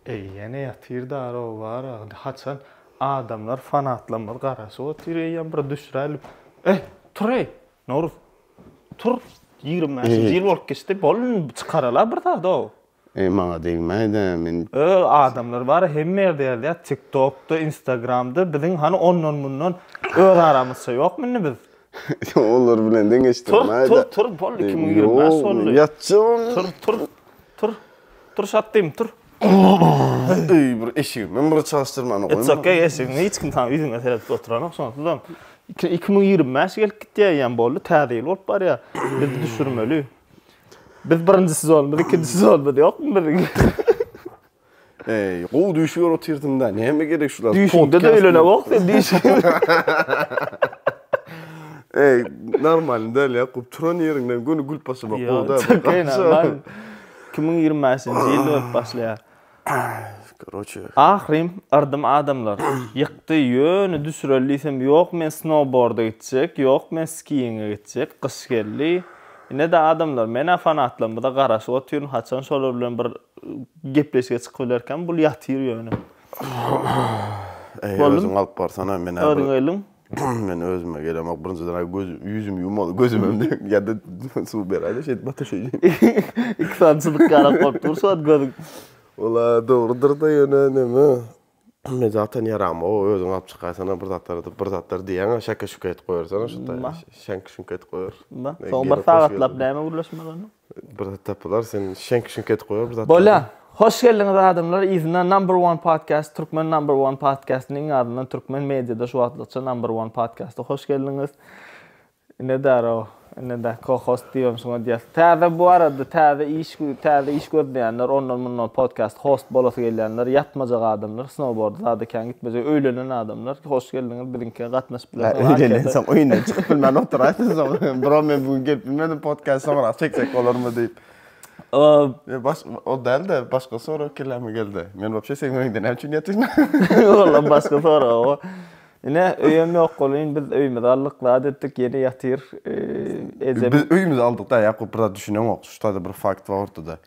Eý ýene ýatyr darow bar agdy haçan adamlar fanatlarymyz garaşyp otyr eýýäm bir düşüräýlip eý tur eý Nowruz tur ýigrimi bäşinji ýyl bolup geçdi bolun çykarala bir zadow. Eý maňa degmäýdä men. Öý adamlar bar hemme ýerde ýazýar tiktokda instagramda biziň hany ondan mundan öz aramyzça ýokmy indi biz Olar bilen deňeşdirmäý-de. Tur, tur, tur, boldy, iki müň ýigrimi bäş boldy. Ýok, ýatjagam. Tur, tur, tur, tur, şatdym, tur. Eý, bir eşigimem bir çalyşdyrmany goýma. It's okay, eşigiňi hiç kim saňa ýüzüňe seredip oturanok, şonsuzam. Iki müň ýigrimi bäş gelip gitýär eýýäm, boldy, täze ýyl bolup barýar. Biz düşürmeli. Biz birinji sezonymyz, ikinji sezonymyz ýokmy biziň? Eý, gowy düýşi görüp otyrdyň-da, näme gerek şular? Düýşüňde-de öýlenewok sen düýşüňde. Eý, normalny däl ýa, gowy, turan ýeriňden göni gülüp başlamak gowy-da. Iki müň ýigrimi bäşinji ýylda ölüp başlaýar. Karoçe. Ahyrym, yrdym adamlar. Ýykdy, ýöne düşüreli diýsem, ýok men snowboarda gitjek, ýok men skiýinge gitjek, gyş geldi. Ine-de adamlar, men-ä fanatlarymyza garaşyp otyryn, haçan şolar bilen bir gepleşige çykyp bilerkäm, bul ýatyr ýöne. Äý, özüň alyp barsana, men-ä bir. Özüň elin. Men özüme gelemok, birinjiden-ä göz, ýüzümi ýumaly, gözümem dek, ýa-da suw beräý-de, şeýdip ataşaýyn. Iki sany çyzyk garap goýup dur, şu wagt gözüň. Ol-a dogrudyr-da, ýöne näme, Men zaten ýaram, o özüň alyp çykaýsana bir zatlar edip, bir zatlar diýýäň-ä, şeke-şuke edip goýersene şo taý, şeňk-şuňk edip goýer. Bar, soň bir sagatlap näme gürleşmeli onda? Bir zat tapylar, sen şeňk-şuňk edip goýer bir zatlar. Bolýar. Hoş geldiňiz adamlar yzyna Number One Podcast, Türkmen Number One Podcast-ynyň adyndan türkmen mediada şu wagtlykça Number One Podcast-a hoş geldiňiz. Ine darrow ine da co-host diýibem şuňa diýäs. Täze bu arada täze iş täze iş gözleýänler ondan mundan podcast host bolasy gelýänler ýatmajak adamlar snowboarda zada kän gitmejek öýlenen adamlar hoş geldiňiz biziňkä gatnaşyp bilersiňiz. Hä öýlenensoň öýünden çykyp bilmän oturaýsyn soň bro men bu gün gelip bilmedim podcast soňrak çeksek bolarmy diýip. Ýa baş o dälde başga sorag kelläme geldi. Men wapşe seň öýüňde näme üçin ýatyryn? Walla başga sorag o. Ine, öýem ýok welin, biz öýümizi aldyk, zat etdik, ýene ýatyr. Ejem. Biz öýümizi aldyk da, Ýakup bir zat düşüneňok. Şu taýda bir fakt bar ortada.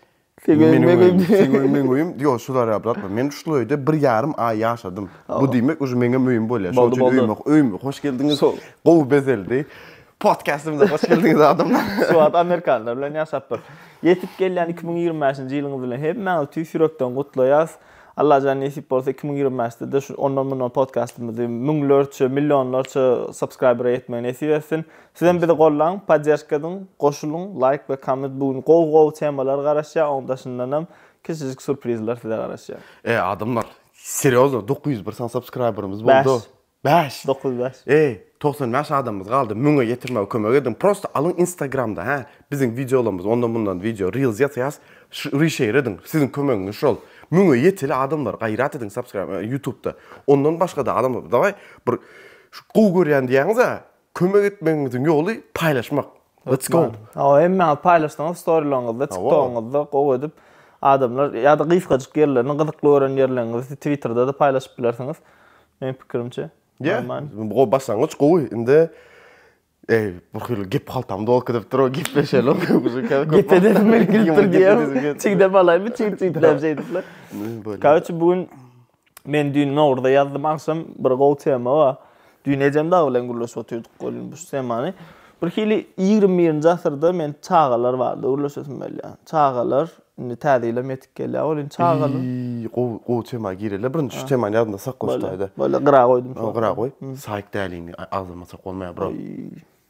Seň öýüň, meň öýüm. Seň öýüň, meň öýüm. Ýok, şu zarýa brat bar. Men şul öýde bir ýarym aý ýaşadym. Bu diýmek uje meňem öýüm bolýar. Şonuň üçin öýüme, öýüme hoş geldiňiz. Gowy bezeldi. Podkastymyza hoş geldiňiz adamlar. Şu wagt amerikanlar bilen ýaşapdyr. Ýetip gelýän iki müň ýigrimi bäşinji ýylyňyz bilen hemmäňizi tüýs ýürekden gutlaýarys. Allajan nesip bolsa iki müň ýigrimi bäşde-de şu ondan mundan podkastymyzy müňlerçe, millionlarça subscribera ýetmegi nesip etsin. Sizem bizi gollaň, podderşka ediň, goşulyň, laýk we komment bu gün gowy gowy temalar garaşýar, oň daşyndanam kiçijik surprizler size garaşýar. Eý adamlar, serýozno dokuz ýüz bir sany subscriberymyz boldy. Bäş. Bäş, dokuz, bäş. Eý, togsan bäş adamymyz galdy, müňe ýetirmäge kömek ediň, prosta alyň instagramda, hä, biziň wideolarymyzy, ondan mundan wideo, reels ýasaýas, ş rişeýr ediň, siziň kömegiňiz şol, müňe ýeteli adamlar, gaýrat ediň subscribe, ýutubda, ondan başgada adamlar, dawaý, bir, şu gowy görýän diýýäňiz-ä, Kömek etmegiňiziň ýoly paýlaşmak. Let's go. Hawa hemmäňiz paýlaşdyňyz storylaryňyzda, tiktogyňyzda gowy edip adamlar ýa-da gysgajyk ýerlerini gyzykly gören ýerleriňizi twitterda-da paýlaşyp bilersiňiz meň pikirimçe. Ýa-da gowy başlangyç gowy indi eý bir hili gep haltam dolyp gidipdir gepleşelim. Gep edesim gelip gidipdir diýip çigdem alaýmy çig-çigläp şeýdip. Karoçe bu gün Men düýn Nowruzda ýazdym agşam bir gowy tema bar. Düýn ejem dagy bilen gürleşip otyrdyk welin bu temany. Bir hili ýigrimi birinji asyrda men çagalar barada gürleşesim gelýär. Çagalar, indi täze ýylam ýetip gelýär welin çagalar. Eý, gowy, gowy tema gireli. Birinji şu temany ýadymda saklaşdaýda. Bolýa, gyra goýdum şony. Gyra goý. Saýk dälini agzyma sok bolmaýar bro.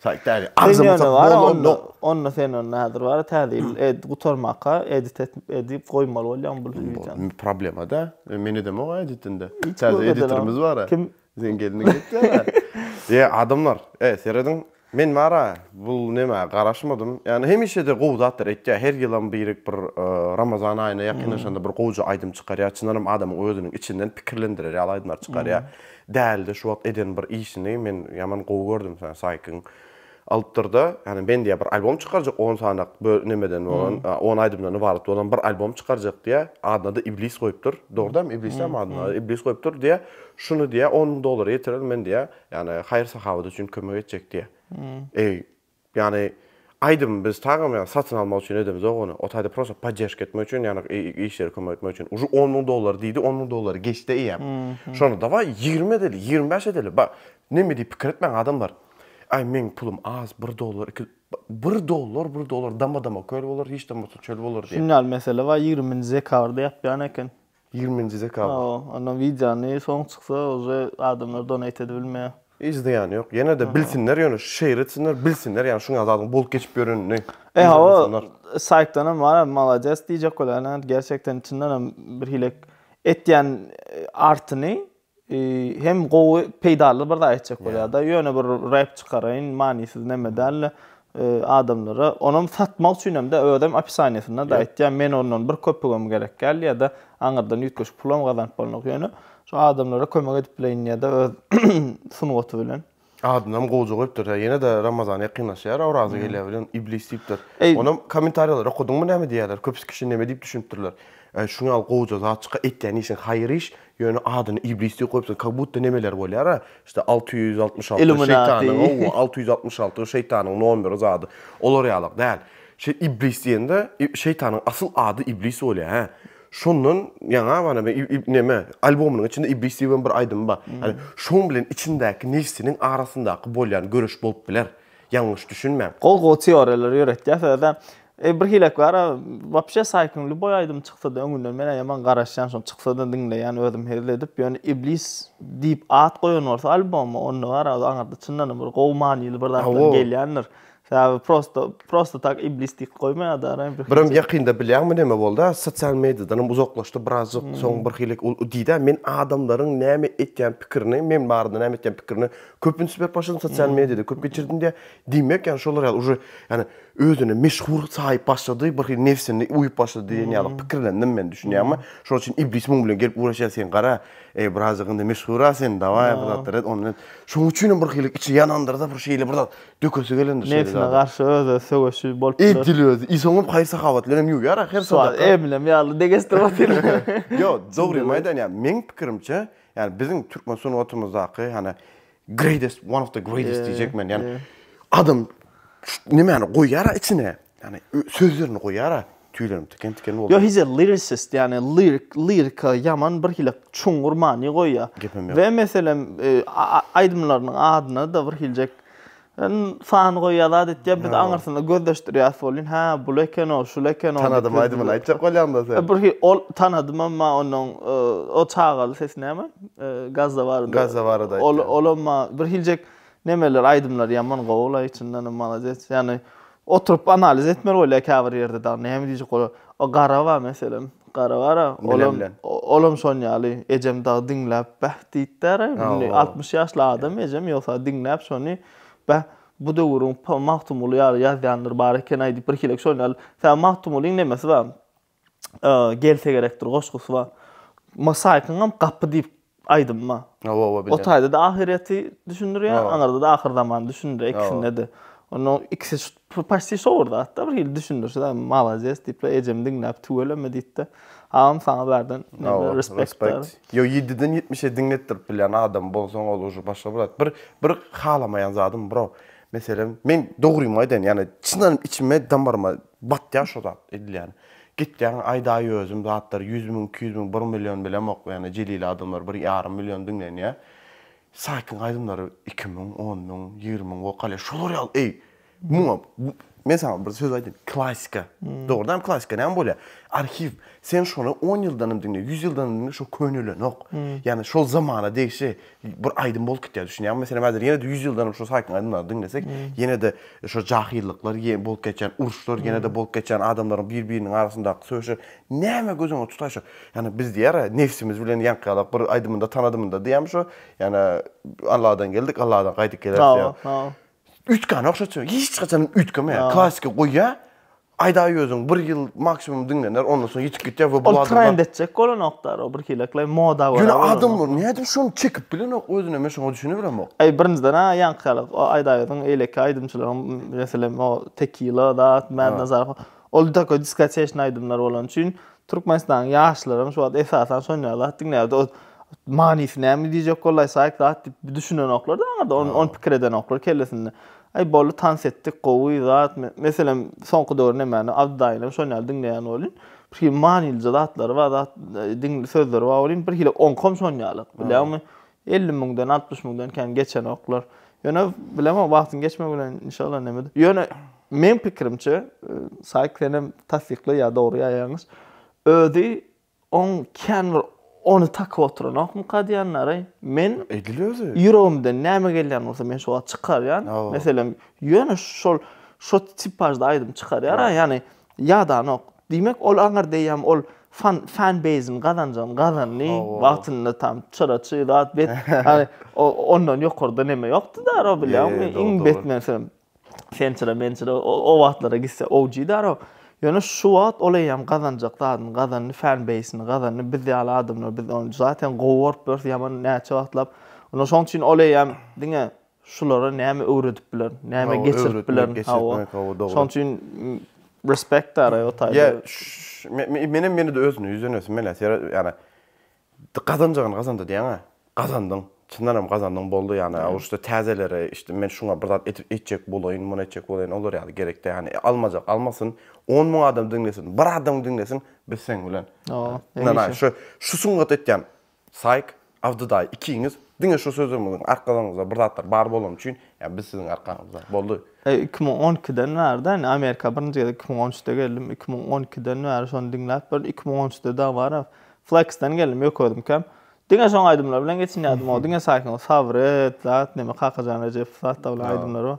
Saýt däli. Sen ýöne bar-a onda, onda sen onda häzir bar-a täze ýyl ed gutarmaka edit et edip goýmaly bolýaň bul wideony. Indi problema-da. Men edemok-a editini-de. Täze editorymyz bar-a. Kim? Seň gelniň edýär-ä. Ýe, adamlar, e, serediň. Men bar-a bul nämä garaşmadym. Ýagny hemişe-de gowy zatlar etýär. Her ýylam birek bir Ramazan aýyna ýakynlaşanda bir gowja aýdym çykarýar. Çyndanam adamyň özüniň içinden pikirlendirer ýaly aýdymlar çykarýar. Däldi şu wagt eden bir işini men ýaman gowy gördüm sen saýkyň alypdyrda ýani men diýä bir albom çykarjak on sanak böl nemeden bolan on aýdymdan ybarat bolan bir albom çykarjak diýä adyna-da iblis goýupdyr dogurdam iblisem adyna iblis goýupdyr diýä şuny diýä on müň dollara ýetirer men diýä ýani haýyr sahawat üçin kömek etjek diýä eý Ýagny aýdymy biz tagam ýagny satyn almak üçin edemizok ony. O taýda prosta podderžka etmek üçin ýagny işleri kömek etmek üçin. Ujy on müň dollar diýdi, on müň dollary geçdi eýýäm. Şonda dawaý ýigrimi edeli, ýigrimi bäş edeli. Ba, neme diýip pikir etmäň adamlar. Aý meň pulum az, bir dollar, iki, bir dollar, bir dollar dama-dama köl bolar, hiç de bolmasa çöl bolar diýip. Şunda ýaly mesele bar, ýigriminji dekabrda ýapýan eken. Ýigriminji dekabr. Hawa, ondan wideony soň çyksa uje adamlar donate edibilmeýär. Hiç zyýany ýok. Ýene-de bilsinler ýöne şu şeýer etsinler, bilsinler ýagny şuňa zadyň bolup geçip ýörenini. E hawa, saýtdanam bar malades diýjek bolýan gerçekden çyndanam birhili etýän artyny Hem gowy peýdaly bir zat etjek bolýarda ýöne bir rep çykaraýyn manysyz neme dälde adamlara onam satmak üçin hemde özem opisaniýasynda da aýtýar men ondan bir köpügem gerek däl ýada aňyrdan üýtgeşik pulam gazanyp bolnok ýöne şu adamlara kömek edip bileýin ýada öz sungaty bilen. Adynam goja goýupdyr da ýene-de Ramazan ýakynlaşýar oraza gelýär bilen iblis diýipdir. Onam kommentarýalary okadyňmy näme diýýärler köpüs kişi neme diýip düşünipdirler. Äý şuň ýaly goja zat çyka etýän işiň haýyr iş ýöne adyny iblis diýip goýupsyň kak budda nemeler bolýara işte alty ýüz altmyş alty şeýtanyň howwa alty ýüz altmyş alty şeýtanyň nomeri zady olar ýalak däl şeý iblis diýende şeýtanyň asyl ady iblis bolýa hä. Şondan ýaňa bana bir ib neme albomynyň içinde iblis diýibem bir aýdym bar. Ýani şoň bilen içindäki nefsiniň arasyndaky bolýan göreş bolup biler. Ýalňyş düşünmäň. Gowy gowy teoriýalary ýöretýäs özem. E bir hilek bara wapşe saýkyn lýuboý aýdym çyksada öňünden menä ýaman garaşýan şony çyksada diňleýän özüm hezil edip ýöne iblis diýip at goýan bolsa alboma onda bara aňyrda çyndanam bir gowy manyly bir zatlar gelýändir. Saby prosto prosto tak iblis diýip goýmaýar da ara bir. Birim ýakynda bilýäňmi näme boldy? Sosial mediýadanam uzaklaşdy birazjyk soň bir hili ol diýdi men adamlaryň näme etýän pikirini men barada näme etýän pikirini köp üns berip başladym sosial mediýada köp geçirdim diýýär. Diýmek ýaly şolar ýaly uje ýani özüne meşhur saýyp başlady bir hili nefsini uýup başlady diýen ýaly pikirlendim men düşünýäňmi? Şol üçin iblis muň bilen gelip ugraşýar sen gara eý birazjyk indi meşhura sen dawaý bir zatlar et ondan et şoň üçinem bir hili içi ýanandyrda bir şeýle bir zat Dökesi gelendir şeýle Nebsine zada. garşy öz-öz söweşi bolup Eý, biler. dil özi. I soňam haýyr-sahawat bilenem ýuwýar ahyr Şu wagt sadaka. eminem ýaly degesdirip otyryn. Ýo, dogrymy aýdan ýa meň pikirimçe, ýani biziň türkmen sungatymyzdaky hany greatest, one of the greatest diýjek men. Ýani adam ş- nemäni goýýara içine, Ýagny sözlerini goýara tüýlerim tiken tiken boldy. Yo he's a lyricist yani lirik lirika yaman bir hile çuňňur many goýýa. Ve meselem e, aýdymlarynyň adyna da bir hiljek sany goýýar zat etýär biz aňyrsyna gözleşdirýäs bolýan ha bul eken o şul eken o tanadym aýdymyny aýtjak bolýanda sen bir ol tanadym emma onuň e, o çagaly sesi näme e, gazda barada gazda barada ol ol emma bir hiljek nemeler aýdymlar ýaman gowy la içinden malades ýani Oturyp analiz etmeli bolýar käbir ýerde dagy näme diýjek bolar. O gara bar meselem. Gara bar-a, olam olam şoň ýaly. Ejem dagy diňläp bäh diýipdir-ä. Indi altmyş ýaşly adam ejem ýogsa diňläp şony bäh bu döwrüň Magtymguly ýaly ýazýanlar bar eken-aý diýip birhilek şoň ýaly. Sebäbi Magtymgulyň nemesi bar. Gelse gerekdir goşgusy bar. Mosaikynam gapy diýip aýdymy bar. Hawa, hawa, bilýän. O taýda-da ahyrýeti düşündirýär, aňyrda-da ahyr zamany düşündirýär, ikisinde-de. Onda ikisi şu paçti şowur zat-da, bir hili düşündirse-de, Malades diýip-le, ejem diňläp tüweleme diýdi-de. Agam saňa bärden respekt. Ýok, ýediden ýetmişe diňletdirip bilýän adam bolsaň, ol uje başga bir zat. Bir, bir halamaýan zadym bro. Meselem, men dogrymy aýdaýyn, ýagny çyn içime, damaryma Batýa şo zat edilýän. Gitýäň aýdaýözüm zatlar ýüz müň iki ýüz müň bir million bilemok ýane jelili adamlar bir ýarym million diňlenýä. Saýkyň aýdymlary iki müň on müň ýigrimi müň wokalýa şolar ýaly eý muňa men saňa bir söz aýdýyn klasika dogrudan hem klasika näme bolýa arhiw sen şony on ýyldan hem diňle ýüz ýyldan hem diňle şo könelenok ýane şol zamana degişli bir aýdym bolup gitýär düşünýäňmi meselem häzir ýene-de ýüz ýyldanam şu saýkyň aýdymlaryny diňlesek ýene-de şu jahyllyklar ýe bolup geçýän uruşlar ýene-de bolup geçýän adamlaryň bir biriniň arasyndaky söýüşler näme göz öňüňe tutaýşy ýagny biz diýýär a nebsimiz bilen ýaňky ýalak bir aýdymynda tanadymynda diýýärmi şu ýagny alladan geldik alladan gaýdyp geler diýýär Üýtgän ogşaçy hiç haçan üýtgemeýär. Klasiki goýýar. Aýdaý özüň bir ýyl maksimum diňlener ondan soň ýitip gitýär we bu adamlar. Ol trend etjek bolanokdar o birhileklay moda görä. Ýöne adamlar nädip şony çekip bilenok özüne men şoňa düşünebilemok. Eý birinjiden a ýaňky ýaly o aýdaý özüň eýleki aýdymçylaryň meselem o tekila zat mädna zarp Ol taka diskoteşny aýdymlar bolany üçin Türkmenistanyň ýaşlaram şu wagt esasan şonýa zat diňlärdi. Ot manysy näme diýjek boldy aý saýk zat diýip düşünenoklar da aňyrda on on pikir edenoklar kellesinde. Aý boldy tans etdik gowy zat meselem soňky döwür nemäni Abdy daýynam şonýaly diňleýän bolýn. Bir hili manylyja zatlary bar zat diňli sözleri bar bolýn bir hili oňkam şonýaly. Bilýäňmi? Elli müňden, altmyş müňden kän geçenoklar. Ýöne bilemok, wagtyň geçmegi bilen inşallah nämedir. Ýöne meň pikirimçe, Saýk senem tassykla ýa dogry ýa ýalňyş, özi oň kän bir ony takyp oturanokmyka diýenleri, men Edil özi. ýüregimden näme gelýän bolsa men şo wagt çykarýan. Meselem, ýöne şol şo tipažda aýdym çykarýar-a, ýagny ýadanok. Diýmek, ol aňyrdeýem ol fan fan base-ini gazanjany gazandy. Wagtynda tam çyra çyg zat bet. Ýagny ondan ýokarda neme ýokdy daro bilýäňmi? Iň bet meselem sen çyra men çyra o wagtlara gitse OG daro. Ýöne şu wagt ol eýýäm gazanjak zadyny gazandy, fan base-ini gazandy. Biz ýaly adamlar biz ony zaten gowy görüp ýörüs ýaman näçe wagtlap. Ine şoň üçin ol eýýäm diňe şulara näme öwredip bilerin, näme geçirip bilerin. Şoň üçin respekt ara o taýda. Men hem ýene-de özüne ýüzlenesim gelýär. Sebäbi ýani gazanjagyny gazandy diýýäň-ä. Gazandyň. Çyndan hem gazandyň boldy ýani. Ol şu täzelere işte men şuňa bir zat edip etjek bolaýyn, muny etjek bolaýyn olar ýaly gerek däl. Ýani almajak almasyn, on müň adam diňlesin, bir adam diňlesin biz seň bilen. Ynanaý şu şu sungat etýän Saýk, Abdy daýy, ikiňiz diňe şu sözümiziň arkalaryňyzda bir zatlar bar bolany üçin, ýa biz siziň arkaňyzda. Boldy. Eý, iki müň on ikiden bäri-dä, indi Amerika birinji gezek iki müň on üçde geldim, iki müň on ikiden bäri şony diňläp bir iki müň on üçde dagy baryp, Fleksden geldim, ýok özümkäm. Diňe şoň aýdymlary bilen geçinýärdim, o diňe Saýkyň o Sabret, zat, neme Kakajan Rejepov zat-da bilen aýdymlary bar.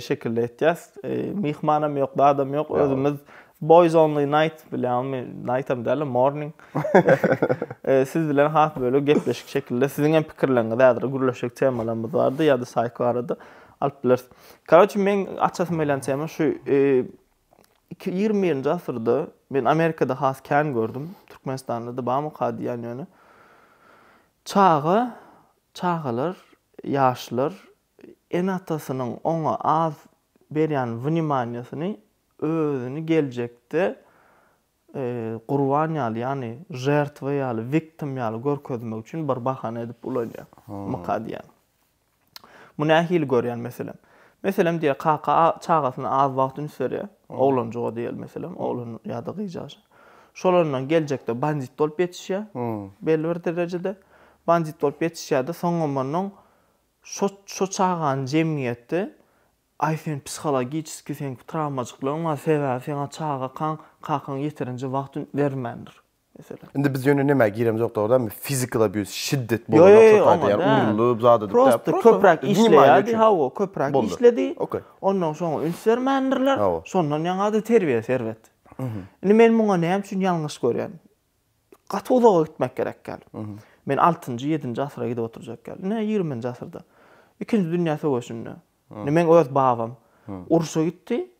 şekilde etýäs. E, myhmanam ýok, zadam ýok. Özümiz Boys Only Night bilýärmi? Night hem däl, morning. E, siz bilen has böyle gepleşik şekilde siziň hem pikirleriňizi häzir gürleşik temalarymyz bardy ýa-da Psycho arada alyp bileris. Karoçi men açasym gelen tema şu 21-nji e, asyrda men Amerikada has kän gördüm. Türkmenistanda da barmy ka diýen ýöne. Çaga, çagalar, ýaşlar Ene-atasynyň oňa az berýän wnimaniýasyny özüni geljekde gurban ýaly, ýagny žertwa ýaly, wiktim ýaly görkezmek üçin bir bahana edip ulanýar. Myka diýýän. Bu nähili görýän meselem? Meselem diýe kaka çagasyna az wagt üns berýär. Oglanjyga diýeli meselem, oglan ýa-da gyja. Şolandan geljekde bandit bolup ýetişýär belli bir derejede. Bandit bolup ýetişýär-de, soňam ondan Şo şo çagany jemgyýetde Aý sen psihologiçeskiý seň trawmajyklygyň bar sebäbi seňa çaga kaň kakaň ýeterinje wagt üns bermändir meselem. Indi biz ýöne nämä giremizok dogry mi physical abuse şiddet bolan ýoksa taýda ýa urulyp zat edip däl prosta köpräk işleýärdi hawa köpräk işledi ondan soň üns bermändirler şondan ýaňada terbiýe serbet indi men muňa näme üçin ýalňyş görýän gaty uzaga gitmek gerek däl. Men altynjy, ýedinji asyra gidip oturjak däl. Ine, ýigriminji asyrda, Ikinji dünýä söweşinde, ine, meň öz babam urşa gitdi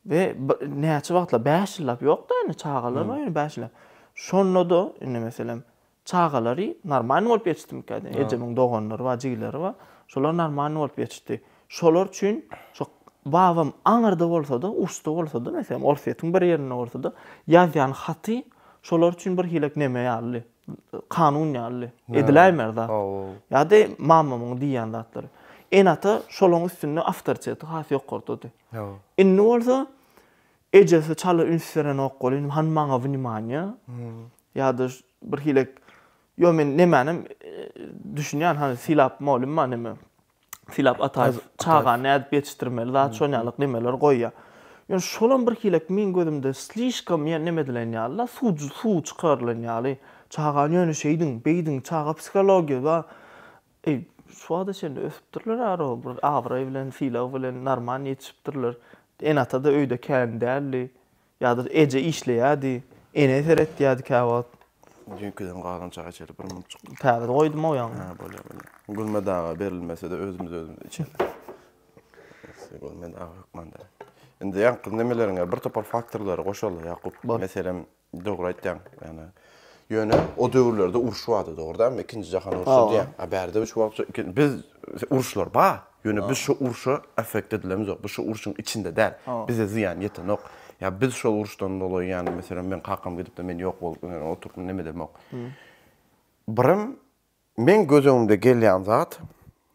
we näçe wagtlap, bäş ýyllap ýok-da, ine, çagalar bar, ine, bäş ýyllap. Şonda-da, ine, meselem, çagalary normalny bolup ýetişdimikä, ejemiň doganlary bar, jigileri bar, şolar normalny bolup ýetişdi. Şolar üçin şo babam aňyrda bolsa-da, uçda bolsa-da, meselem, Orsýetiň bir ýerinde bolsa-da, ýazýan haty şolar üçin birhilek neme ýaly, kanun ýaly, ediläýmär zat. Ýa-da mamamyň diýýän zatlary. Ene-ata şolaryň üstünde awtoriteti has ýokardadyr. Indi bolsa ejesi çala üns berenok welin, hany maňa wnimaniýa, ýa-da birhilek, ýo men nemänem düşünýän, hany sylap bolunma neme. Sylap Ataýew çaga nädip ýetişdirmeli, zat şon ýaly gmeler goýýar. Ýöne şolam bir hilek meň gözümde slişkom ýa neme edilen ýaly da, suw suw çykarylan ýaly. Çagany ýöne şeýdiň, beýdiň, çaga psihologiýa ba Eý, şu wagta çenli ösüpdirler aroo, bir abraý bilen, sylag bilen, normal ýetişipdirler. Ene-ata-da öýde kän däldi. Ýa-da eje işleýärdi, ene seretýärdi käwagt. Düýnkiden galan çaý içeli bir mumçuk. Täze goýdum-ow ýaňy. Hä, bolýar, bolýar. Gulmet aga berilmese-de özümiz özümize içeris. Gulmet aga hökmanda. Indi ýaňky nemeleriňe bir topar faktorlary goşaly, Ýakup. Meselem, dogry aýtýaň. Ýöne, ýöne o döwürlerde uruş bardy, dogry dälmi? Ikinji jahan urşy diýýäň. A bärde-de şu wagtça iki, biz, uruşlar bar. Ýöne biz şo urşa affekt edilemizok. Biz şo urşuň içinde däl. Bize zyýan ýetenok. Ýa biz şo urşdan doly ýani meselem meň kakam gidipdi men ýok bolup ýöne oturtdym neme edemok. Birem meň göz öňümde gelýän zat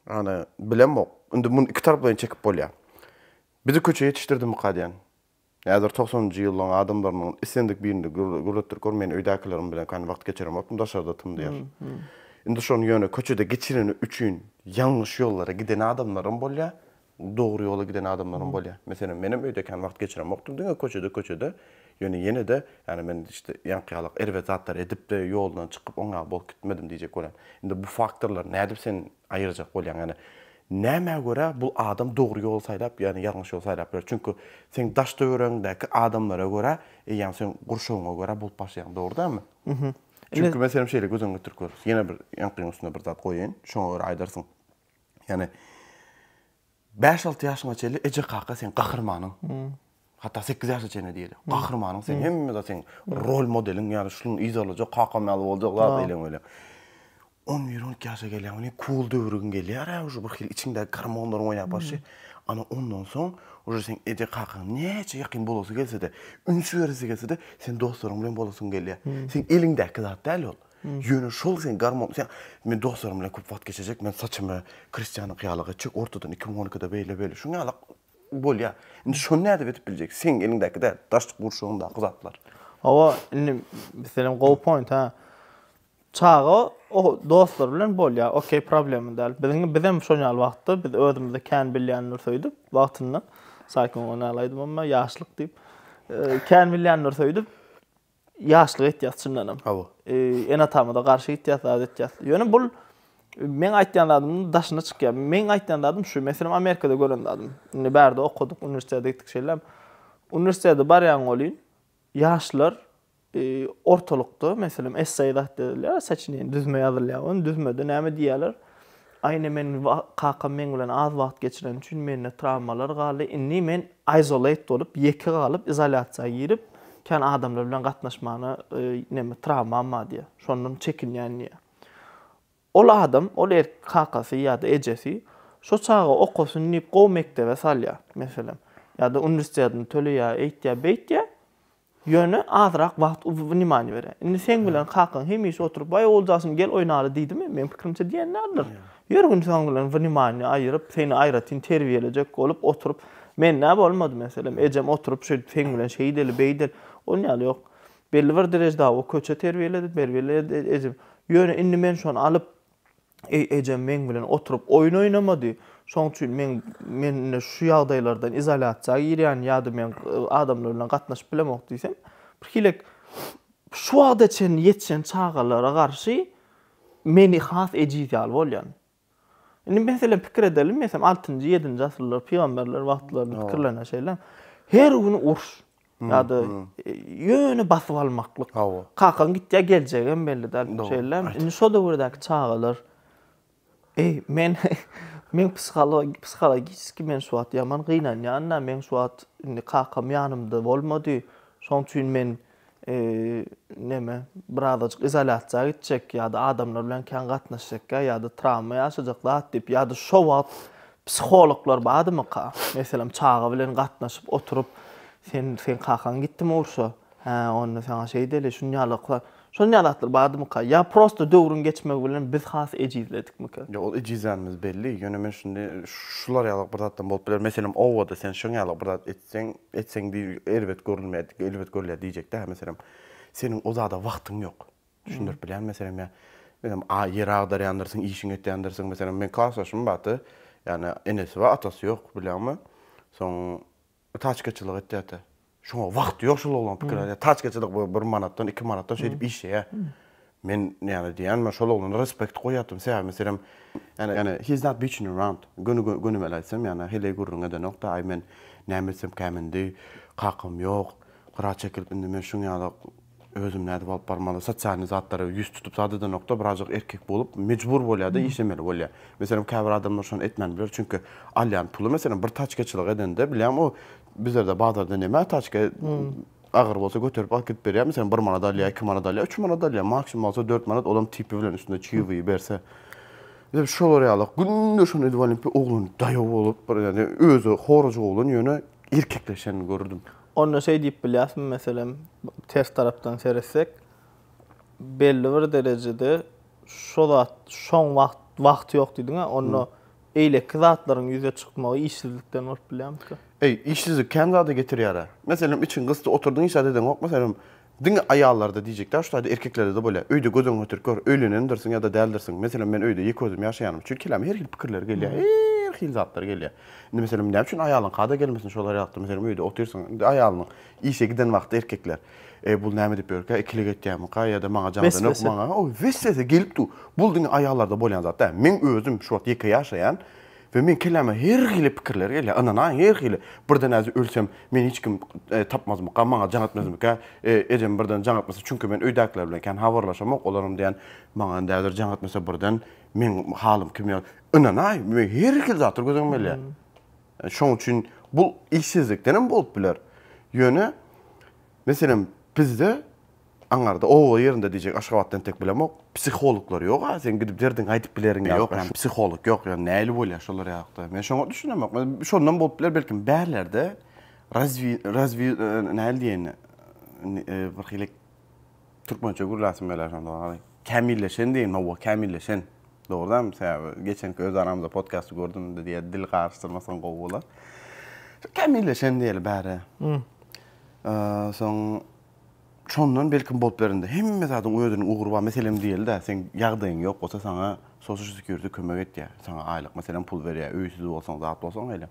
ýani bilemok indi muny iki tarap bilen çekip bolýar. Bizi köçe ýetişdirdimika diýen. Häzir togsanynjy ýyllaň adamlarynyň islendik birinde gürletdirip gör, men öýdäkilerim bilen kän wagt geçiremokdym, daşarda tymdyr. Indi şony ýöne köçede geçireni üçin ýalňyş ýollara giden adamlaram bolýar, dogry ýola giden adamlaram bolýar. Meselem, menem öýde kän wagt geçiremokdym, diňe köçede, köçede, ýöne ýene-de, ýani men işte ýaňky ýaly erbet zatlar edip-de, ýoldan çykyp, oňa bolup gitmedim diýjek bolýan. Indi bu faktorlar nädip seni Aýyrjak bolýaň, ýagny nämä görä bu adam dogry ýoly saýlap, ýagny ýalňyş ýoly saýlap biler. Çünki seň daş-töweregiňdäki adamlara görä, eýýäm seň gurşawyňa görä bolup başlaýaň, dogry dälmi? Çünki men senem şeýle göz öňüňe getirip görüp, ýene bir ýaňkyň üstüne bir zat goýaýyn, şoňa görä aýdarsyň. Ýagny Bäş-alty ýaşyňa çenli eje-kaka seň gahrymanyň. Hatda sekiz ýaşa çenli diýeli. Gahrymanyň seň hemme zat seň rol modeliň ýaly şunuň yz alajak, kakam ýaly boljak zat eýleň öýleň. On bir, on iki ýaşa gelýäň welin cool döwrüň gelýär-ä uje bir hili içiňdäki gormonlaryň oýnap barşy. Ana ondan soň uje seň eje-kakaň näçe ýakyn bolasy gelse-de, üns beresi gelse-de sen dostlaryň bilen bolasyň gelýär. Seň eliňdäki zat däl ol. Ýöne şol sen garmon sen Men dostlarym bilen köp wagt geçirjek, men saçymy Kristianyňky ýalak etjek, ortadan iki müň on ikide beýle beýle şuň ýala bolýar. Indi şony nädip edip biljek? Seň eliňdäki däl, daş gurşawyňdaky zatlar. Hawa, indi meselem gowy point ha. Çaga o dostlary bilen bolýar, okey problema däl. Biziň bizem şoň ýaly wagtda biz özümize kän bilýänler söýdüp wagtynda Saýkun oňa nälaýdymam men ýaşlyk diýip. Kän bilýänler söýdüp. Ýaşlyk etýäs çyndanam. Hawa. Ene-atamyza garşy gitýäs, zat etýäs. Ýöne bul meň aýtýan zadymyň daşyna çykýar. Meň aýtýan zadym şu, meselem Amerikada gören zadym. Indi bärde okadyk, uniwersitete gitdik şeýle. Uniwersitete barýan welin ýaşlar ortalykda meselem essay zat edilýär, saçineniýe, düzme ýazylýar welin düzmede näme diýýärler? Aýna men kakam meň bilen az wagt geçireni üçin mende trawmalar galdy. Indi men isolate bolup, ýeke galyp, izolýasiýa girip, kän adamlar bilen gatnaşmana neme trawmam bar diýýär. Şondan çekinýän diýýär. Ol adam, ol erk kakasy ýa-da ejesi şo çaga okasyn diýip gowy mekdebe salýar, meselem, ýa-da uniwersitedini töleýär, eýtýär, beýtýär. Ýöne azrak wagt wniýaniýa bere. Indi seň bilen kakaň hemişe oturyp, Waý, Oguljaşym, gel oýnaly diýdimi? Meň pikirimçe diýen däldir. Ýör gündiz oň bilen wniýaniýa aýyryp, seni aýratyn terbiýelejek bolup oturyp, mende bolmady meselem, ejem oturyp şeýdip seň bilen şeýdeli, beýdeli. Onuň ýaly ýok. Belli bir derejda o köçe terbiýeledi, berbiýeledi ejem. Ýöne indi men şony alyp, Eý, ejem meň bilen oturyp oýun oýnamady. Şoň üçin meň men indi şu ýagdaýlardan izolýasiýa girýän ýa-da men adamlar bilen gatnaşyp bilemok diýsem, birhilek şu wagta çenli ýetişen çagalara garşy meni has ejiz ýaly bolýan. Indi meselem pikir edeliň, meselem altynjy, ýedinji asyrlar pygamberler wagtlaryny pikirlene şeýle. Her gün uruş. Ýa-da ýöne basyp almaklyk. Hawa. Kakaň gitýär, geljegem belli däl. Şeýlemi? Indi şo döwürdäki çagalar Eý, men men psihologik, psihologiki men şu wagt ýaman gynanýan-da, men şu wagt indi kakam ýanymda bolmady. Şoň üçin men näme, birazajyk izolýasiýa gitjek ýa-da adamlar bilen kän gatnaşjakka ýa-da trawma ýaşajak zat diýip ýa-da şo wagt Psihologlar bardymyka? Meselem, çaga bilen gatnaşyp oturyp, Sen, seň kakaň gitdimi urşa? Hä, onda saňa şeýdeli, şuny ýaly kla. Şuny ýaly zatlar bardymyka? Ýa prosta döwrüň geçmegi bilen biz has ejizledikmika? Ýok, ol ejizlänimiz belli. Ýöne men şindi şular ýaly bir zatdan bolup biler. Meselem, obada sen şuň ýaly bir zat etseň, etseň diý, erbet görülmeýär, erbet görülýär diýjek-dä. Meselem, seniň o zada wagtyň ýok. Düşündirip bilýän meselem ýa. Özem a ýer agdarýandyrsyň, işiň etýändirsiň. Meselem, men klasdaşym bardy. Ýani enesi bar, atasy ýok, bilýäňmi? Soň taçkaçylyk etýärdi. Şoňa wagty ýok şol oglanyň pikir alýa. Taçkaçylyk bu bir manatdan, iki manatdan şeýdip işleýä. Men ýani diýýän, men şol oglana respekt goýýardym. Sebäbi meselem, ýani, ýani he is not bitching around. Göni, gönümel aýtsam, ýani heleý gürrüň edenok-da, aý men näme etsem käm indi, kakam ýok, hyra çekilip indi men şuň ýaly, Özüm nädip alyp barmaly? Sosialny zatlara ýüz tutup zat edenokda birazjyk erkek bolup mejbur bolýada işlemeli bolýa. Meselem käbir adamlar şony etmän biler çünki alýan puly meselem bir taçkaçylyk edende bilýän o bizlerde bazarda neme taçka agyr bolsa göterip alyp gidip berýär meselem bir manat alýa iki manat alýa üç manat alýa maksimum bolsa dört manat olam tipi bilen üstünde çybygy berse. Dep şolar ýaly günde şony edip alyp oglan daýaw bolup bir ýa-da özi horajyk oglan ýöne erkekleşenini görürdim. Onda şeý diýip bilýärismi, meselem, ters tarapdan seretsek, belli bir derejede şo zat, şoň wagt, wagt ýok diýdiň-ä, onda beýleki zatlaryň ýüze çykmagy işsizlikden bolup bilýärmika? Eý, işsizlik kän zada getirýär-ä. Meselem, içiň gysdy, oturdyň hiç zat edeňok, meselem, Diňe aýallarda diýjek däl, şu taýda erkeklerde-de bolýar. Öýde göz öňüňe getirip gör, öýlenendirsiň ýa-da däldirsiň. Meselem, men öýde ýeke özüm ýaşaýanymyz üçin kelläme her hili pikirler gelýär, her hili zatlar gelýär. Indi, meselem, näme üçin aýalyň kada gelmesin şol aralykda, meselem, öýde otyrsyň, indi aýalynyň işe giden wagty erkekler, Eý, bul näme edip ýörkä, ikilik etýärmika ýa-da maňa jaňada nökr, maňa, o weswese gelip dur. Bul diňe aýallarda bolýan zat däl. Men özüm şu wagt ýeke ýaşaýan. We meň kelläme her hili pikirler gelýär, ynanaýyň her hili, birden äzi ölsem meni hiç kim tapmazmyka, maňa jaň etmezmika, ejem birden jaň etmese, çünki men öýdäkiler bilen kän habarlaşamok, olaram diýýän, maňa indi häzir jaň etmese birden meň halym kim ýaly, ynanaý, meň her hili zatlar göz öňüme gelýär. Şoň üçin bu işsizlikdenem bolup biler. Ýöne meselem bizde Aňarda oba ýerinde diýjek Aşgabatda entek bilemok. Psihologlar ýoga seň gidip derdiňi aýdyp bileriň ýa ýok ýani psiholog ýok ýa näli bolýa şolar ýakda men şoňa düşünemok şondan bolup biler belki bärlerde razvi razvi näli diýeni bir hili türkmençe gürläsim gelýär şonda garaý kämilleşen diýen hawa kämilleşen dogry dämi sebäbi geçenki öz aramyzda podkasty gördüm diýýä dil garyşdyrmasaň gowy bolar kämilleşen diýeli bäri soň Şondan belkim bolup bilerinde hemme zadyň özüniň ugry bar meselem diýeli-dä seň ýagdaýyň ýok bolsa saňa sosial sekýuriti kömek etýär saňa aýlyk meselem pul berýär öýsüz bolsaň zat bolsaň eýle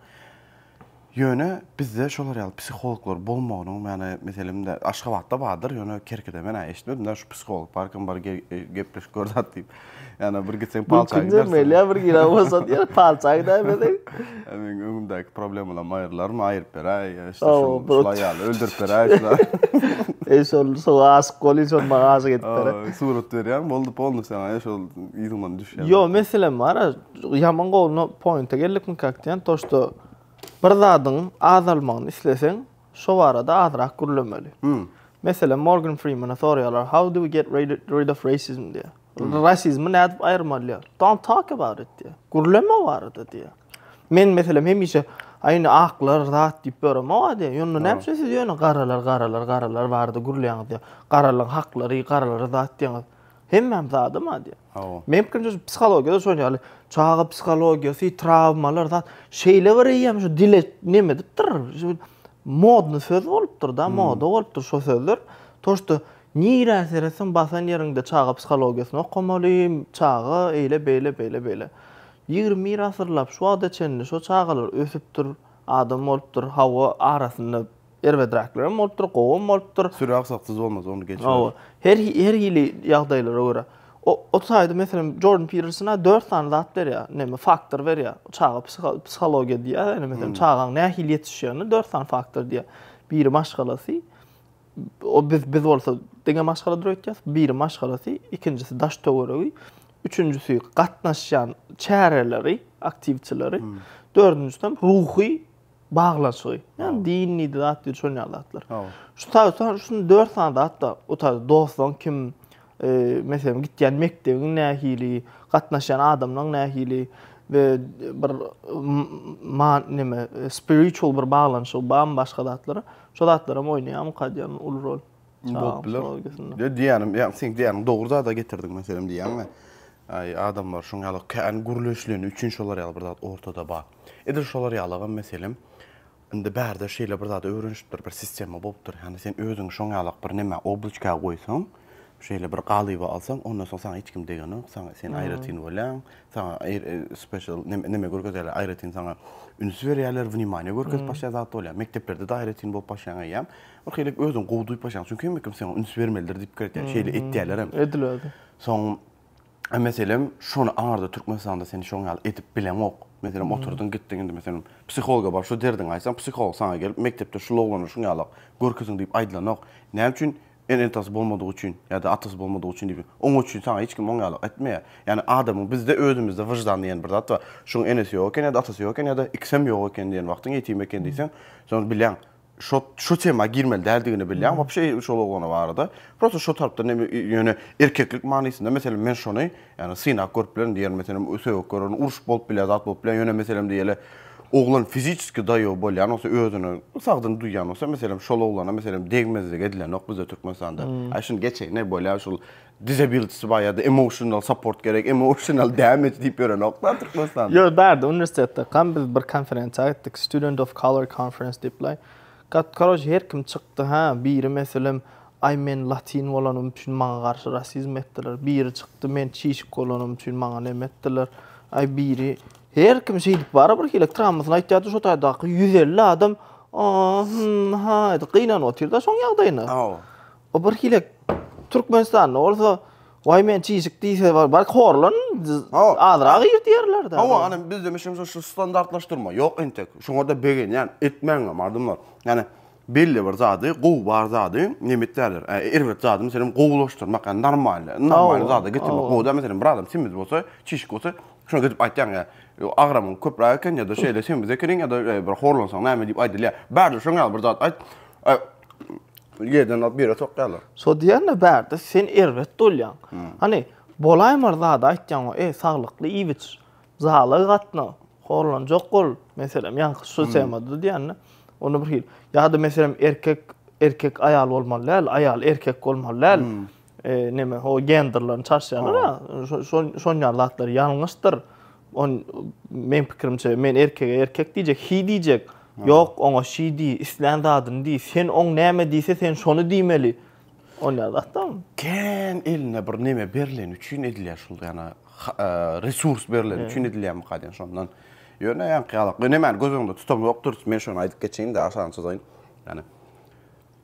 ýöne bizde şolar ýaly psihologlar bolmagynyň ýany meselemde aşgabatda bardyr ýöne kerkide men-ä eşitmedim-dä şu psiholog barkam bar gepleşip gör zat diýip. Ýana bir gitseň palça gidersin. Mümkin däl, bir gire bolsa diýer, palça gidermedi. Meniň öňümdäki problemalarymy aýyrlarmy, aýyryp beräý, işte şular ýaly, öldürip beräý şular. Eý, şol şoňa aşyk bol, şol maňa aşyk edip ber. Surat berýäň, boldy, boldy saňa, eý, şol ýüzüňden düşýär. Ýo, meselem bar, ýaman gowy, no pointa geldikmi kak diýen, to, şto, bir zadyň azalmagyny isleseň, Şo barada azrak gürlemeli. Meselem, Morgan Freemana soraýarlar, How do we get rid of racism? diýýär. Rasizmi nädip aýyrmaly diýýär. Don't talk about it diýýär. Gürleme o barada diýýär. Men meselem hemişe, Aý indi aklar zat diýip ýöremok-a diýýär. Ýöne näme üçin siz ýöne garalar, garalar, garalar barada gürleýäňiz diýýär. Garalyň haklary, garalara zat diýýäňiz. Hemmäm zada ma diýýär. Hawa. Men pikirimçe şu psihologiýada şonuň ýaly çaga psihologiýasy, trawmalar zat şeýle bir eýýäm şu dile neme edipdir. Şu modny söz bolupdyr-da, hmm. moda bolupdyr şo sözler. To şda nirä seretseň basan ýeriňde çaga psihologiýasyny okamaly, çaga eýle beýle beýle beýle. 21 asyrlap şu wagta çenli şo çagalar ösüpdir, adam bolupdyr, hawa arasynda Erbedräklerem bolupdyr, gowam bolupdyr. Süre aksaksyz bolmaz, ony geçiber. Hawa. Her her hili ýagdaýlara görä. O o taýda meselem Jordan Peterson-a dört sany zat berýär, näme faktor berýär. Çaga psihologiýa diýýär, ýa-da meselem çagaň nähili ýetişýänine dört sany faktor diýýär. Biri maşgalasy, o biz biz bolsa diňe maşgala durup ýetýäs, biri maşgalasy, ikinjisi daş-töweregi, üçünjisi gatnaşýan çäreleri, aktiwçileri, dördünjisem ruhy baglanşygy. Ýani din diýdi zat diýdi şol ýaly zatlar. Şu taýdan şuny dört sany zatda utar dostuň kim meselem gitýän mekdebiň nähili, gatnaşýan adamlaň nähili we bir man nime spiritual bir baglanşygy barmy başga zatlara. Şo zatlar hem oýnaýar mukadýan uly rol. Bolup biler. Ýa diýýänim, ýa sen diýýäniň dogry zada getirdiň meselem diýýäňmi? Aý adamlar şoň ýaly kän gürleşileni üçin şolar ýaly bir zat ortada bar. Edil şolar ýalagam, meselem, indi bärde şeýle bir zada öwrenişipdir, bir sistema bolupdyr, ýagny sen özüňi şoň ýalak bir nämä, obloçka goýsaň, şeýle bir galyba alsaň, ondan soň saňa hiç kim degenok, saňa, sen aýratyn bolýaň, saňa special neme, neme görkezýärler, aýratyn saňa üns berýärler, wnimaniýa görkezip başlaýan zat bolýar. Mekdeplerde-de aýratyn bolup başlaýaň eýýäm, birhili özüňi gowy duýup başlaýaň, çünki hemme kim saňa üns bermelidir diýip pikir etýär, şeýle etýärlerem. Edil özi. Soň A meselem, şony arda Türkmenistanda sen şoň ýaly edip bileňok. Meselem, oturdyň, gitdiň indi meselem, psihologa bar, şu derdiňi aýtsaň, psiholog saňa gelip, mekdepde şul oglana şuň ýaly görkeziň diýip aýdylanok. Näme üçin? Ene-atasy bolmadygy üçin ýa-da atasy bolmadygy üçin diýip, oň üçin saňa hiç kim oň ýaly etmeýär. Ýagny adamyň bizde özümizde wyždan diýen bir zat bar. Şuň enesi ýok eken ýa-da atasy ýok eken ýa-da ikisem ýok eken diýen wagtyň ýetim eken diýseň, soň bileň. şo şo tema girmeli däldigini bilýän wapşe şol oglana barada prosta şo tarapdan em ýöne erkeklik manysynda meselem men şony ýagny synap görüp bilerin diýerin meselem sögüp görerin urşup bolup bilýär zat bolup bilýär ýöne meselem diýeli oglan fiziçeski daýow bolýan bolsa özüne sagdyn duýýan bolsa meselem şol oglana meselem degmezlik edilenok bizde türkmenistanda a şuny geçeýin e bolýar şul Disability bar ýa-da emotional support gerek, emotional damage diýip ýörenoklar Türkmenistanda. Ýok, bardy uniwersitetde. Gam biz bir konferensiýa gitdik, Student of Color Conference diýipler. Gat, karoç, her kim çykdy, hä, biri meselem, aý men latin bolanym üçin maňa garşy rasizm etdiler, biri çykdy, men çişik bolanym üçin maňa neme etdiler, aý biri, her kim şeýdip bara bir hili trammasyny aýtýardy, şo taýdaky ýüz elli adam, a-a, hum, haý, diýip gynanyp otyr-da şoň ýagdaýyna. Hawa. O bir hile Türkmenistanda bolsa Why men çişik diýse bar, bar horlan azragy ýer diýerler de. Hawa, ana bizde meşem şu standartlaşdyrma ýok entek. Şoňa da begenýän, etmäň hem adamlar. Ýani belli bir zady, gowy bar zady nemet däler. Erbet zady meselem gowulaşdyrmak, ýani normal, normal zada getirmek gowy däl. Meselem bir adam semiz bolsa, çişik bolsa, şoňa gidip aýtýaň, ýa agramyň köpräk eken ýa-da şeýle semiz ekeniň ýa-da bir horlansaň näme diýip aýdylýar. Bärde şoň ýaly bir zat aýt. Ýerden alyp ýere sokýarlar. So diýende bärde sen erbet bolýaň. Hany bolaýmar zady aýtýaň, e saglykly iýip iç, zala gatna, horlanjak bol, meselem ýaňky şu temada diýende onda bir hil. Ýa-da meselem erkek erkek aýal bolmaly däl, aýal erkek bolmaly däl. E, neme o genderlerini çaşýarlar-a, şo şo şon ýaly zatlar ýalňyşdyr. On men pikirimçe men erkege erkek diýjek, he diýjek. Ýok, oňa she diý, islän zadyny diý. Sen oň näme diýse sen şony diýmeli. On ýaly zatdam. Kän eline bir neme berleni üçin edilýär şul ýana resurs berleni üçin edilýärmika diýen şondan. Ýöne ýaňky ýalak. Men nämäni göz öňünde tutam ýokdur. Men şony aýdyp geçeýin-de, aşagyny çyzaýyn. Ýani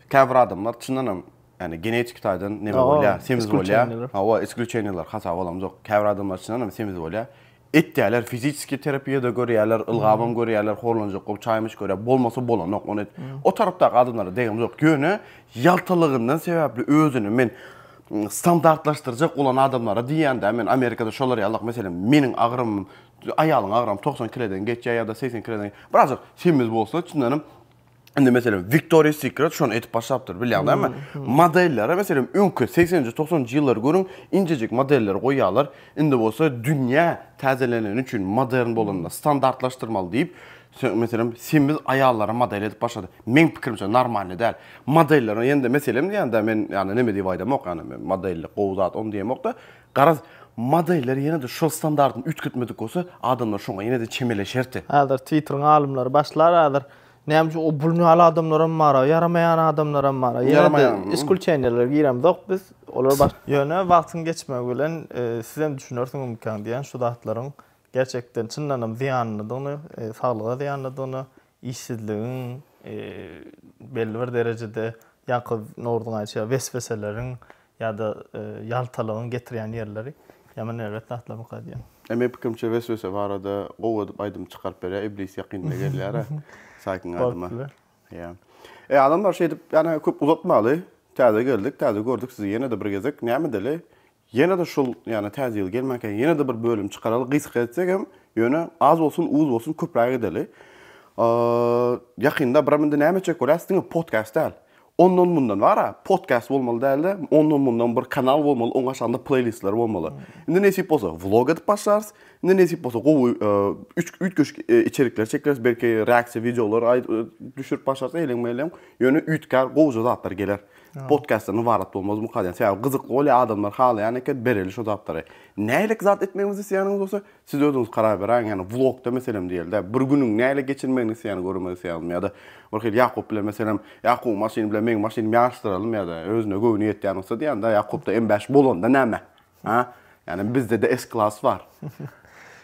käbir adamlar çyndanam Ýani genetiki taýdan neme bolýa, semiz bolýa. Hawa, isklüçeniýalar hasap alamzok. Käbir adamlar çynan hem semiz bolýa. Etýäler, fizisiki terapiýada görýäler, ylgabam görýäler, horlanjak bolup çaýmyş görýä. Bolmasa bolanok, ony o tarapdaky adamlara degemzok. Ýöne ýaltalygyndan sebäpli özüni men standartlaşdyrjak bolan adamlara diýýän-dä, men Amerikada şolar ýalak, meselem, meniň agramym, aýalyň agramy togsan kilodan geçýä ýa-da segsen kilodan. Birazajyk semiz bolsa, çyndanam Indi meselem Victoria's Secret şonu etip başlapdyr, bilýäňdämi? Hmm, hmm. Modellere meselem öňki 80-nji, 90-njy ýyllary görüň, injejik modeller goýýarlar. Indi bolsa dünýä täzeleneni üçin modern bolanda hmm. standartlaşdyrmaly diýip, meselem semiz aýallara model edip başlady. Meň pikirimçe normalny däl. Modellere ýende meselem diýende men ýani näme diýip aýdamok, ýani men modellik gowy zat, onu diýemokda, Garaz, modeller ýene-de şol standartyny üýtgetmedik bolsa, adamlar şoňa ýene-de çemeleşerdi. Häzir Twitteriň alymlary başlar häzir. Näme üçin o bul ýaly adamlaram bar-a, ýaramaýan adamlaram bar-a. Ýene-de iskulçeniýalary giremzok biz. Olar baş. Ýöne wagtyň geçmegi bilen sizem düşünersiňizmikaň diýýän şu zatlaryň gerçekden çyndanam zyýanlydygyny, saglyga zyýanlydygyny, işsizligiň, belli bir derejede ýaňky Noruzyň aýtşy wesweseleriň ýa-da ýaltalygyň getirýän ýerleri ýaman erbet zatlar mykady ýa? E meň pikirimçe weswese barada gowy edip aýdym çykaryp berýär iblis ýakynda gelýär-ä saýkyň aýdyma. Bolupdyr. Ýa. E adamlar şeýdip ýa köp uzatmaly. Täze geldik, täze gördük sizi ýene-de bir gezek. Näme edeli? Ýene-de şul, ýagny Täze ýyl gelmänkä ýene-de bir bölüm çykaraly, gysga etsek hem, ýöne az bolsun, uz bolsun köpräk edeli. Ýakynda biram indi näme etjek bolýas, diňe podcast däl. Ondan mundan bar-a, podcast bolmaly däl-de, ondan mundan bir kanal bolmaly, oň aşagynda pleýlistler bolmaly. Indi nesip bolsa vlog edip başlarys, indi nesip bolsa gowy üç üýtgeşik içerikler çekeris, belki reaksiýa wideolary düşürip başlarys, eýleň-meýleň, ýöne üýtgär, gowja zatlar geler. podkastdan ybarat bolmaz bu kadýa. Sebäbi gyzykly bolýar, adamlar halaýan eken, bereli şu zatlary. Nähili zat etmegimizi isleýäniňiz bolsa, siz özüňiz karar beräýiň. Ýagny vlogda meselem diýeli-de, bir günüň nähili geçirmegini isleýäni görmek isleýäňizmi ýa-da bir hili Ýakup bilen meselem, Ýakubyň maşyny bilen meň maşynymy ýaryşdyralym ýa-da özüne göwni ýetýän bolsa diýýän-dä, Ýakupda M5 bolanda näme? Ha? Ýani bizde-de S-klass bar.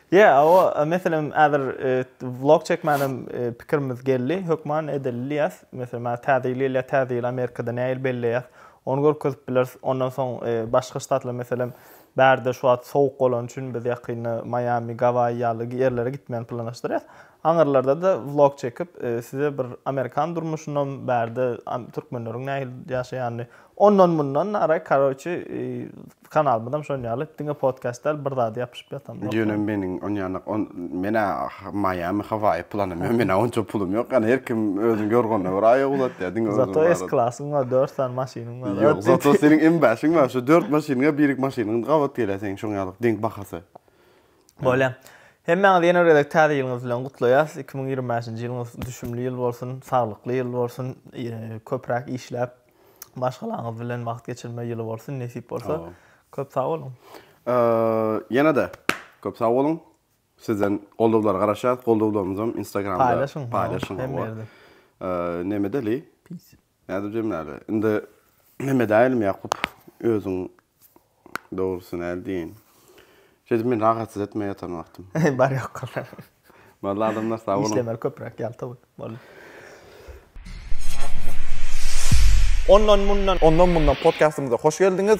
Ýe, o meselem häzir vlog çekmänem pikirimiz geldi. Hökman edeli diýýäs. Meselem häzir täze ýyl gelýär, täze ýyly Amerikada nähili belleýär? Ony görkezip bileris. Ondan soň başga ştatlar meselem bärde şu wagt sowuk bolany üçin biz ýakynda Maýami, Gawaýi ýaly ýerlere gitmegini planlaşdyrýas. Aňyrlarda-da vlog çekip, size bir amerikan durmuşynam, bärde türkmenleriň nähili ýaşaýanyny, ondan mundan nara, karoçi, kanalymyzam şon ýaly, diňe podcast däl, bir zada ýapyşyp ýatanok. Ýöne meniň onýanlyk, on, men-ä Maýami, Hawaýi planym ýok, men-ä onça pulum ýok, ýagny her kim özüniň ýorganyna görä aýak uzatýar, diňe özüň barada. Zato S-klasyň bar, dört sany maşynyň bar. Ýok, zato seniň M-bäşiň bar, şu dört maşynyň ýa birki maşynyň gabat gelýär seniň şoň ýaly, deň bahasy. Bolýa. Hemmäňizi ýene bir gezek Täze ýylyňyz bilen gutlaýas. Iki müň ýigrimi bäşinji ýylyňyz düşümli ýyl bolsun, saglykly ýyl bolsun, köpräk işläp, maşgalaňyz bilen wagt geçirme ýyly bolsun, nesip bolsa. Köp sag boluň. Ýene-de köp sag boluň. Sizden goldawlara garaşýas. Goldawlarymyzam Instagramda paýlaşyň. Paýlaşyň. Hemme ýerde. Neme deli? Peace. Nädip jemlärdi? Indi Mehmet älim Ýakup özüň dogrusy näl diýeýin. Şeýdip meni rahatsyz etme ýatan wagtym. Bar ýok. Boldy adamlar sag boluň. Işlemeli köpräk ýalta gün. Boldy. Ondan mundan. Ondan mundan podkastymyza hoş geldiňiz.